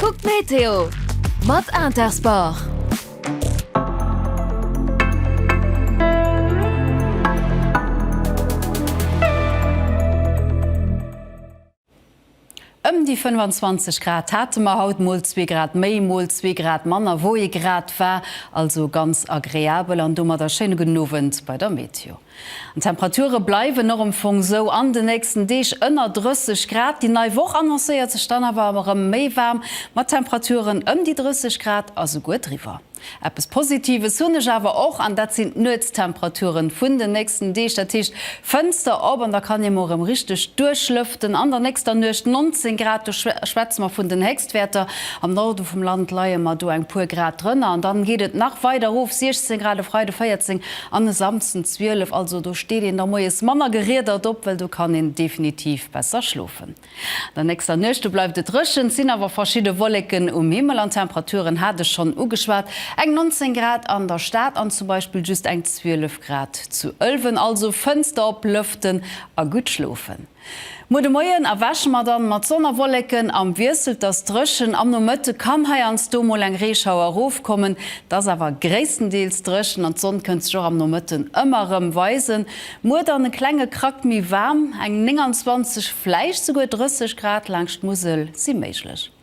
Kuck d'Meteo mat Intersport! Ëm déi 25 Grad hate mer haut, mol zwee Grad méi, mol zwee Grad manner, wou ee Grad war, also ganz agreabel an domadder schéine gudden Owend bei der Meteo. An d'Temperature bleiwen och am Fong sou an de nächsten Deeg ënner 30 Grad. Déi nei Woch annoncéiert sech dann awer erëm méi waarm, mat Temperaturen ëm déi 30 Grad a souguer driwwer. Eppes Positives hunn ech awer och, an dat sinn d'Nuetstemperature vun den nächsten Deeg. Dat heescht, Fënster op an da kann ee mol erëm richteg duerchlëften. An der nächster Nuecht 19 Grad, do schwätze mer vun den Héchstwerter. D'Wäerter am Norde vum Land leie mar do eng puer Grad drënner an dann geet et nach weider erof, 16 Grad e Freide, 14 an e Samsden 12. Also do steet een da moies manner geriedert op, well do kann een definitiv besser schlofen. An der nächster Nuecht do bleift et dréchen, et sinn awer verschidde Wolleken um Himmel an d'Temperaturen hat ech schonn ugeschwat, eng 19 Grad an der Stad an zum Beispill just eng 12 Grad zu Ëlwen. Also Fënster op, lëften a gutt schlofen. Muer de Moien erwäche mer dann mat Sonn a Wolleken, am Wiessel t'ass dréchen, am Nomëtte kann heiansdo mol eng Reeschauer erofkommen, t'ass awer gréisstendeels dréchen an t'Sonn kënnt sech och am Nomëtten ëmmer rëm weisen. Muer dann e klenge Krack méi waarm, eng 29, vläicht souguer 30 Grad laangscht Musel si méiglech.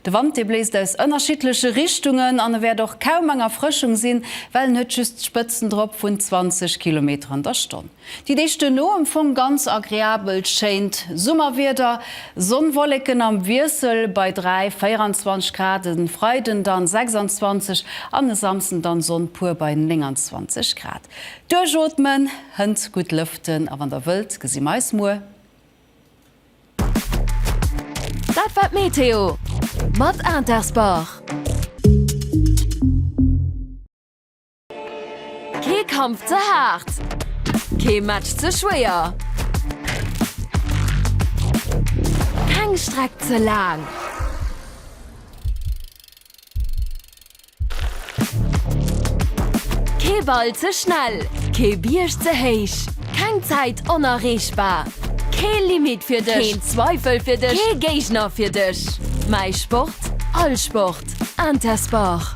De Wand, dee bléist aus ënnerschiddleche Richtungen an e wäert och kaum eng Erfrëschung sinn, well en huet just Spëtzen drop vun 20 Kilometer an der Stonn. Déi Deeg duerno am Fong ganz agreabel, schéint Summerwieder, Sonn-Wolleken am Wiessel bei 3, 24 Grad, e Freiden dann 26 an e Samsden dann Sonn pur bei 29 Grad. Duerchootmen, hënt gutt lëften a wann der wëllt, gesi mer eis muer. Dat war d'Meteo mat Intersport. Kee Kampf ze haart, kee Match ze schwéier, keng Streck ze laang. Kee Ball ze schnell, kee Bierg ze héich, keng Zäit onerreechbar, kee Limit fir dech, keen Zweifel fir dech, kee Géigner fir dech. Mäi Sport, all Sport, Intersport.